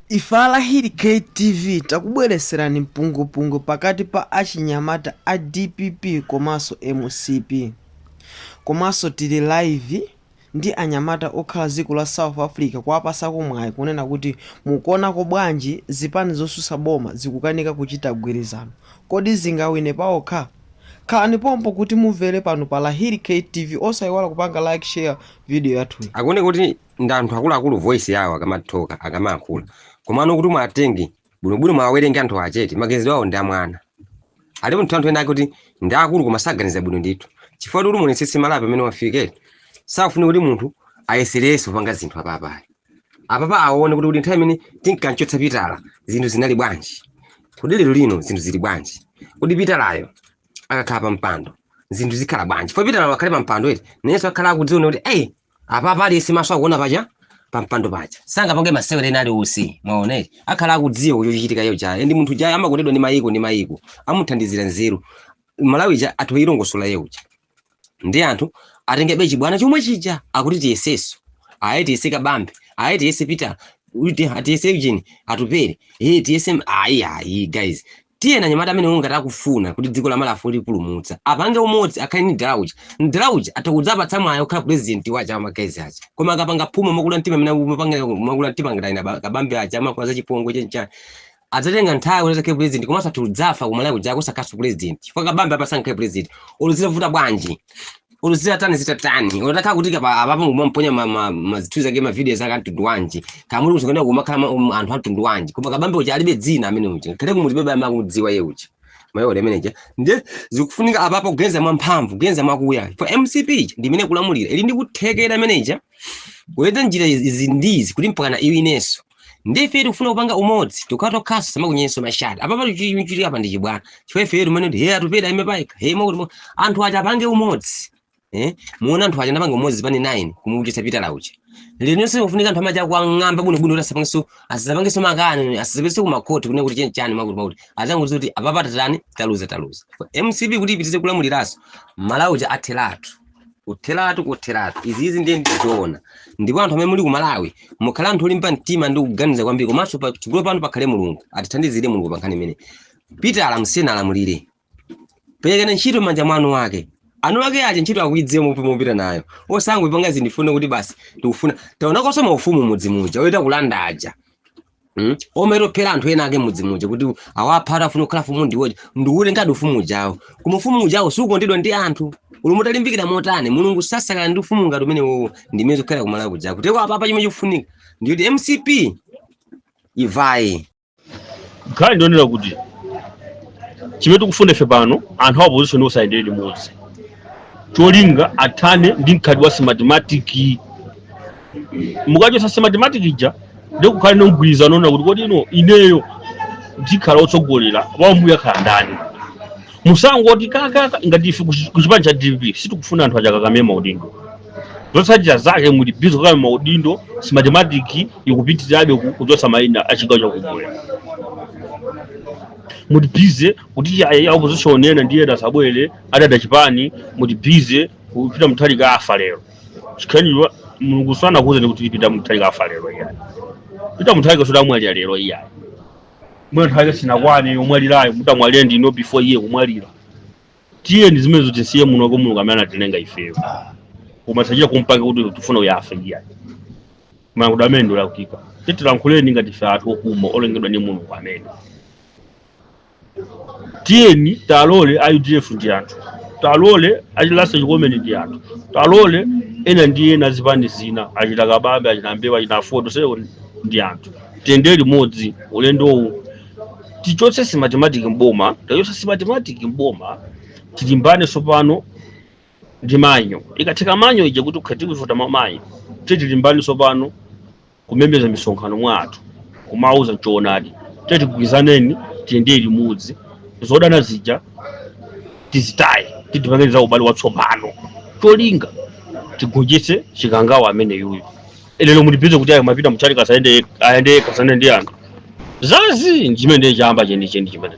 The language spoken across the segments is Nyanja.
Ife a Lahiri K TV takubweretserani mpungwepungwe pakati pa achinyamata a dpp komanso mcp. Komanso tili live ndi anyamata okhala dziko la South Africa kuwapasako mwayi kunena kuti mukuonako bwanji zipani zosusa boma zikukanika kuchita gwirizano? Kodi zingawine paokha? Khalani pompo kuti mumvere pano pa Lahiri K TV osaiwala kupanga like share video yathuyi. Akuona kuti ndi anthu akuluakulu voice yawo akamathoka akamayankhula komano kuti mwatenge bwinobwino mwawerenge anthu achete maganizo awo ndi amwana ali munthu anthu ena akuti ndi akulu koma saganiza bwino ndithu chifukwa kuti muonetsetse malapi amene wafika safuna kuti munthu ayeserenso kupanga zinthu apapa apapa aone kuti kuti nthawi imene tinkanchotsa pitala zinthu zinali bwanji kodi lero lino zinthu zili bwanji kodi pitalayo akakhala pa mpando zinthu zikhala bwanji fo pitala akhale pa mpando eti nayenso akhala akudziona kuti eyi apapa aliyense maso akuona paja pampando paja sangapange masewera ena aliwonse mwaonere akhala akudziwa kuti chochitika iye ujayo ndi munthu ujayo amakondedwa ndi mayiko ndi mayiko amuthandizira nzeru malawi uja atha kuilongosola iye uja ndi anthu atenge chibwana chomwe chija akuti tiyeseso aye tiyese kabambe aye tiyese peter uti- tiyese ujeni atupele ee tiyese m- ayi ayi guys Tiyeni anyamata amenewo ngati akufuna kuti dziko la Malawi afune kulipulumutsa apange umodzi akhale ndi mdara uja. Mdara uja atha kudzapatsa mwayi okhala president wa aja ama guys aja. Koma akapanga phuma mokula mtima mmene amapangira mokula mtima ngati ena ba- kabambe aja amakamba za chipongwe chenchani. Adzatenga nthawi kuti akhale president komanso atha kudzafa ku Malawi kuja kusakhalanso president. Chifukwa kabambe apa sangakhale president. Olo zitavuta bwanji. olo zitatani zitatani olo atakhala kuti apapa n'kumaponya ma- ma- mazinthu ake ma videos ake amtundu wanji kamuli musakanena kumakhala ma- um, anthu amtundu wanji koma kabambe uja alibe dzina amene uja kale kumudzi alibe amene akumudziwa iye uja mayole ameneja ndiye zikufunika apapo kugenza mwamphamvu kugenza mwakuya for mcp ija ndi imene ikulamulira ili ndi kuthekera ameneja kuyesa njira izi izi ndi izi kuti mpakana iwinenso ndife tikufuna kupanga umodzi tokhatokhaso samakunyenso mashati apapa chichitika pa ndi chibwana chifukwa ifeyo timanena kuti he atupele ime paika he mwakuti mwa- anthu aja apange umodzi eh muona anthu aja anapanga umodzi zipani 9 kumuchotsa pitala uja lero linonso kufunika anthu amene aja kuwang'amba bwino bwino kuti asapangenso asapangenso makani asapitenso ku makhoti kune kuti chenchani mwakuti mwakuti angoti kuti apapa tatani taluza taluza mcp kuti ipitirize kulamuliranso malawi uja atheratu kutheratu kutheratu izizi ndiye ndizoona ndipo anthu amene muli ku malawi mukhala anthu olimba mtima ndi kuganiza kwambiri komanso pa chigulu apa pakhale mulungu atithandizire mulungu pa nkhani imene pitala musiyeni alamulire perekani ntchito m'manja mwa eni ake eni ake aja ntchito akuidziwa mopi mopita nayo osangoipanga zandifune kuti basi ndikufuna tionekonso maufumu m'mudzi muja oyita kulanda aja Mm? omero phera anthu ena ake m'mudzi muja kuti awapha atafuna kukhala fumu ndiwoje ndiule ngati ufumu ujawo koma ufumu ujawo sukondedwa ndi anthu olo mutalimbikira motani mulungu sasangalala ndi ufumu ngati umenewowo ndimene zikukhala kumalawi kuja kuteroko apapa chimene chikufunika ndikuti mcp ivaye nkhani ndiyonena kuti chimene tikufuna ife pano anthu a opposition onse ayendere limodzi cholinga athane ndi mkhalidwe wa smartmatic mukachotsa simatematiki ija ndi kukhala ndi mgwirizano onena kuti kodi ino ineyo ndikhala otsogolera wambuyo akhala ndani musangoti kakaka ngati ife kuchi- kuchipani cha dpp sitikufuna anthu akukakamira maudindo zotsatira zake muli bize kukhala maudindo simatematiki ikupitirirabe ku- kuchotsa mayina a chigawo chakummwera muli bize kuti ya- ya opposition ena ndiye asabwere adada chipani muli bize kuti peter mutharika afa lero chikhaniwa mulungu sanakuuzeni kuti peter mutharika afa lero iyayi peter mutharika zoti amwalira lero iyayi mwina nthawi yake sinakwane yomwalirayo mutamwalire ndinu before iye kumwalira tiyeni zimenezo tisiye muno kwa mulungu amene anatilenga ifeyo koma osachita kumapanga kuti tifuna uyu afe iyayi mulungu amene ndolakwika titilankhuleni ngati ife anthu okoma olengedwa ndi mulungu amene tiyeni talole a udf ndi anthu talole achina ras chikomeni ndi anthu talole ena ndi ena azipani zina achina kabambe achina mbewe achina aford onsewo ndi anthu tiyendere limodzi ulendowu tichotse simatematiki mboma tikachotsa simatematiki mboma tilimbane tsopano ndi manual ikatheka manual ija kuti tikhala tikuvota mwa manual titilimbane tsopano kumemeza misonkhano mwa anthu kumawauza choonadi tete tigwirizaneni tiyendere limodzi zodana zija tizitaye tipange za ubale watsopano cholinga tigonjetse chikangawa amene uyuyu lero muli bize kuti ayi a peter mutharika sayenda ayende kasane ndi anthu zazii chimene chamba chenicheni chimene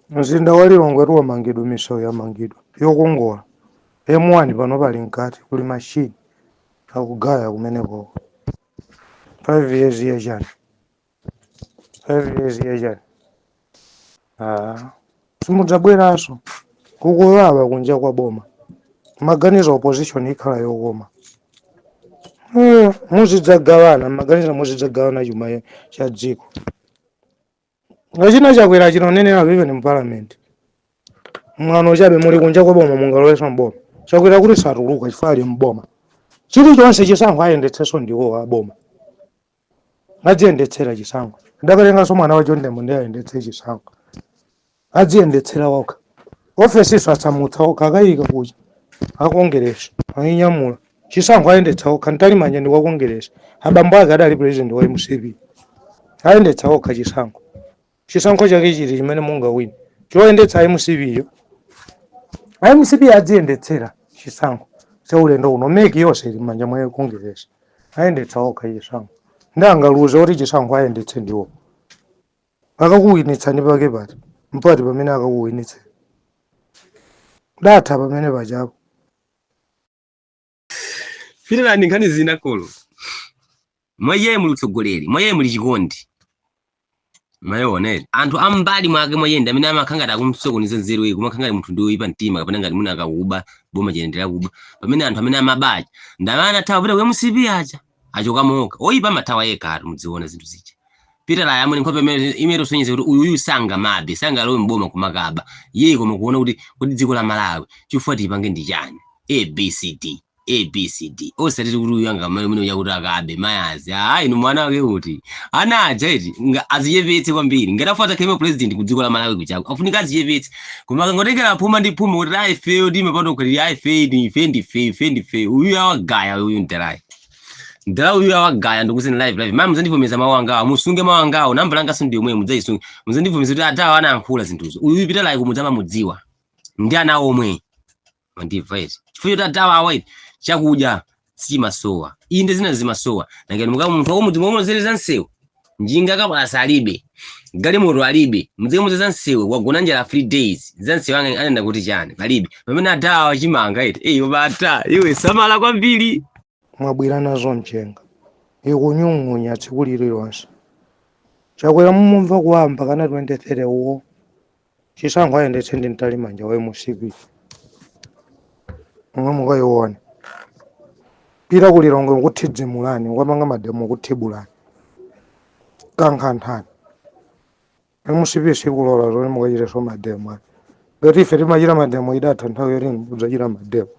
Mzinda wa Lilongwetu wamangidwa, misewu yamangidwa yokongola. M1 panopa ili mkati kuli machine akugaya kumenekoko. 5 years ya chani? 5 years ya chani? Ah, simudzabweranso kukuwawa kunja kwa boma maganizo opposition ikhala yokoma Eh, muzidzagawana maganizo muzidzagawana chuma cha dziko Achina Chakwera achina onenera vive ni mu parliament. Mwano chabe muli kunja kwa boma mungalowenso mboma. Chakwera kuti satuluka chifukwa ali mboma. Chilichonse chisankho ayendetsenso ndiwo a boma. Adziyendetsera chisankho. Akatenganso mwana wa John Tembo ndiye ayendetse chisankho. Adziyendetsera okha. Ofesinso asamutsa okha akayika kucha. Akongeresi. Ayinyamula. chisankho ayendetsa okha Mtalimanja ndi wa kongeresi abambo ake adali president wa mcp ayendetsa okha chisankho chisankho chake chiti chimene mungawine choyendetsa mcp yo a mcp adziyendetsera chisankho cha ulendo uno MEC yonse ili m'manja mwa kongeresi ayendetsa okha chisankho ndi angaluze kuti chisankho ayendetse ndiwo akakuwinitsani pake pati mpati pamene akakuwinitsani zatha pamene pachapo Pitala ndi nkhani zina kolo. Mwa iye muli utsogoleri, mwa iye muli chikondi. Mayone. Anthu ambali mwake mwa iye ndi amene amakhala ngati akumsokoneza nzeru iyeyo, kumakhala ngati munthu ndi woyipa mtima kapena ngati mwina akakuba boma chiyendera kuba. Pamene anthu amene amaba aja ndi amene anathawa kupita ku MCP aja. Achokamo okha. Oyipa amathawa yekhatu mudziona zinthu zija. Pitala yemwe nkhope imene imene usonyeza kuti uyu uyu sangamabe, sangalowe mboma kumakaba. Iyeyi koma kuona kuti kuti dziko la Malawi chifukwa tipange ndi chani? A B C D. A B C D. Osati kuti uyu angamabe mwini uja kuti akabe ayi. Ah inu mwana wake kuti. Ana aja eti nga azichepetse kwambiri. Ngati afuna atakhala president ku dziko la Malawi kuchako. Afunika azichepetse. koma akangotengera phuma ndi phuma kuti ayi ifeyo timapanda kukhalira ayi ifeyi ndi ife ndi ife ife ndi ife uyu awagaya uyu mterayi mtera uyu awagaya ndikuti live live mama muzandivomeza mawu angawo musunge mawu angawo namba langaso ndi yomweyo mudzaisunge muzandivomeza kuti atawo anayankhula zinthuzo uyu pitala kumudzama mudziwa ndi ana omwe mandimva izi chifukwa choti atawawa ine chakudya sichimasowa inde zina zimasowa nangani muka munthu wakumudzi mumuuze za msewu njinga kabaza alibe galimoto alibe mudzikamuuza za msewu wagona njala three days za msewu anena kuti chani palibe pamene atawa chimanga eti eyi bata iwe samala kwambiri mwabwera nazo mchenga ikunyung'unya tsiku lililonse chakwera mumumva kuwawa mbakana 23 uwo chisankho ayendetse ndi mtalimanja wa mcp omwe mukayiona kupita ku lilongwe nkuthidzimulani ukapanga mademo kuthibulani kankhanthani mcp sikulola zoti mukachiteso mademo ayi. ngati ife timachita mademo idatha nthawi yoti mudzachita mademo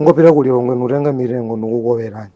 ngopita ku lilongwe nutenga mitengo ndikukolerani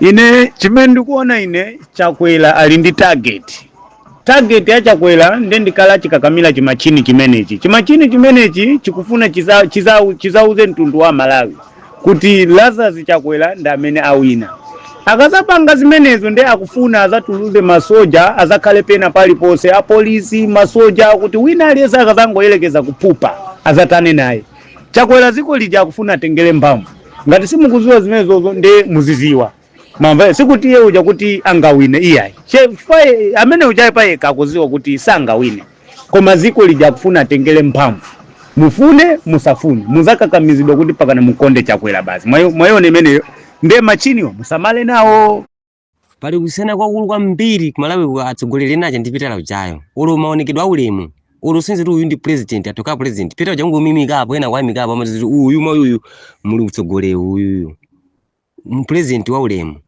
ine chimene ndikuona ine chakwera ali ndi target target ya chakwera nde ndi kale chikakamira chimachini chimenechi chimachini chimenechi chikufuna chiza- chiza- chizauze mtundu wa malawi kuti lazarus chakwera ndi amene wawina akazapanga zimenezo nde akufuna azatuluze masoja azakhale pena paliponse apolisi masoja kuti wina aliyense akazangoyerekeza kuphupa azathane naye chakwera ziko lija akufuna atengere mphamvu ngati simukuziwa zimenezozo nde muziziwa mamva sikuti iye uja kuti angawine iyayi Che- chifukwa ye- amene ujaye payekha akuziwa kuti sangawine koma ziko lija akufuna atengere mphamvu mufune musafune muzakakamizidwa kuti pakana mukonde chakwera basi Mwayo- mwayiona imeneyo nde machiniwo musamale nawo pali kusiyana kwakulu kwambiri kumalawi ku atsogoleri ena aja ndi Peter ujayo ulo maonekedwe a ulemu ulo senze kuti uyu ndi president atoka president Peter uja kungomuimikapo ena kuwaimikapo amati kuti uyu mwa uyuyu muli utsogoleri uyuyu mpresident wa ulemu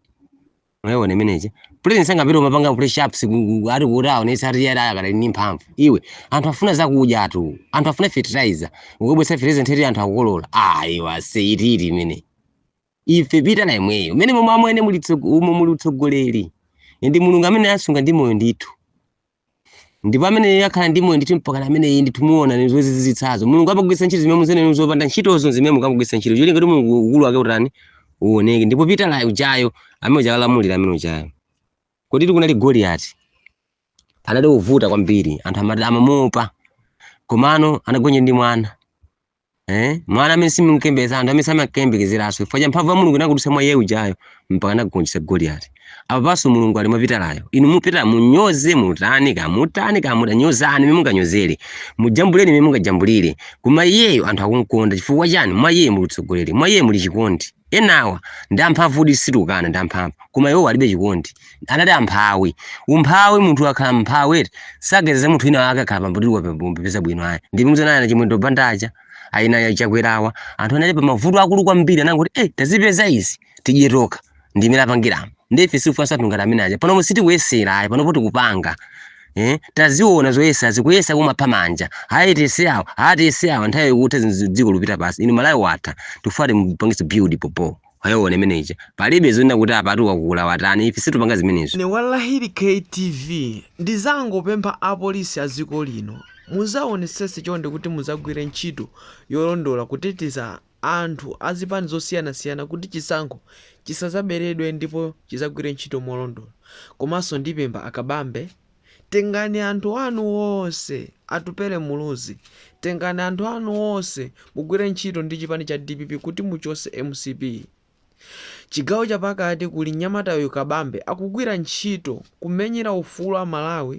mwayiona imeneje president sangapita umapanga press ups ati kuti aonesa ati yada akadali ndi mphamvu iwe anthu afuna zakudya atu anthu afuna fertilizer ukabwesa fertilizer ndeti anthu akukolola ayi wase ititi imene ife Peter na imweyo mene momwe amwene muli tsogo- umo muli utsogoleri ndi mulungu amene asunga ndi moyo ndithu ndipo amene iye akhala ndi moyo ndithu mpaka na amene iye ndithu muona ndi zozizwitsazo mulungu amagwiritsa ntchito zimene muziona ndi zopanda ntchitozo zimene mulungu amagwiritsa ntchito cholinga kuti mulungu ukulu wake utani uoneke ndipo Peter ujayo amene uja alamulira amene ujayo kodi kunali goliyati anali ovuta kwambiri anthu amati amamuopa komano anagonja ndi mwana Eh? Mwana amene simukembeza anthu amene samakembekezeraso chifukwa cha mphamvu ya Mulungu inakudutsa mwa iye ujayo mpaka anagonjetsa Goliati. Apapaso Mulungu ali mwa Peteryo. Inu Peter munyoze mutani kamutani kamuda nyozani mmene munganyozere. Mujambuleni mmene mungajambulire. Koma iyeyo anthu akumkonda chifukwa chani? Mwa iye muli utsogoleri, mwa iye muli chikondi. enawa ndi amphamvudi situkana ndi amphamvu koma iwo alibe chikondi anali amphawi umphawi munthu akhala mphawi eti sageza munthu wina wake akhala pambutiko peza bwino ayi ndipo muzaona ana chimwendo banda aja ana ya chakwera aja anthu anali pa mavuto akulu kwambiri anangoti eh tazipeza izi tidye tokha ndimene apangiramo ndife chifuasa zangati amene aja panopo sitikuyesera ayi panopo tikupanga eh taziona zoyesa sikuyesa kumapha manja hayi tese awa hayi tese awa nthawi yokutha zinthu dziko lupita pansi inu malawi watha tifati mupangise build popo wayoona imeneja palibe zonena kuti apatu wakula watani ife situpanga zimenezo ne wallahili ktv ndizangopempha apolisi a dziko lino muzaonesese chonde kuti muzagwire ntchito yolondola kuteteza anthu a zipani zosiyanasiyana kuti chisankho chisazaberedwe ndipo chizagwire ntchito molondola komanso ndipempha a Kabambe tengani anthu anu onse Atupele Muluzi tengani anthu anu onse mugwire ntchito ndi chipani cha dpp kuti muchose mcp Chigawo chapakati kuli mnyamata uyu Kabambe akugwira ntchito kumenyera ufulu wa Malawi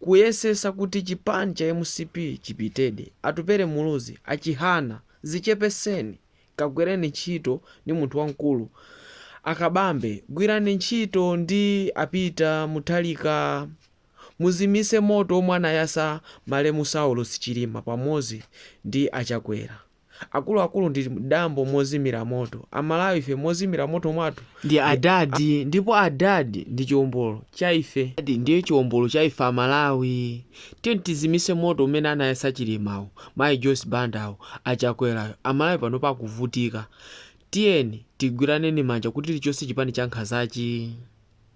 kuyesesa kuti chipani cha mcp chipitedi Atupele Muluzi a Chihana zichepeseni kagwireni ntchito ndi munthu wamkulu a Kabambe gwirani ntchito ndi a Peter Muthalika muzimise moto omwe anayasa malemu Saulos Chilima pamozi ndi a Chakwera akuluakulu ndi dambo mozimira moto amalawi ife mozimira moto mwathu ndi adad ndipo adad ndi chiombolo cha ife adad ndiye chiombolo cha ife amalawi tiyeni tizimitse moto umene anayatsa chilimawo mayi joyce bandawo achakwerayo amalawi panopa akuvutika tiyeni tigwiraneni manja kuti tichotse chipani chankhanzachi.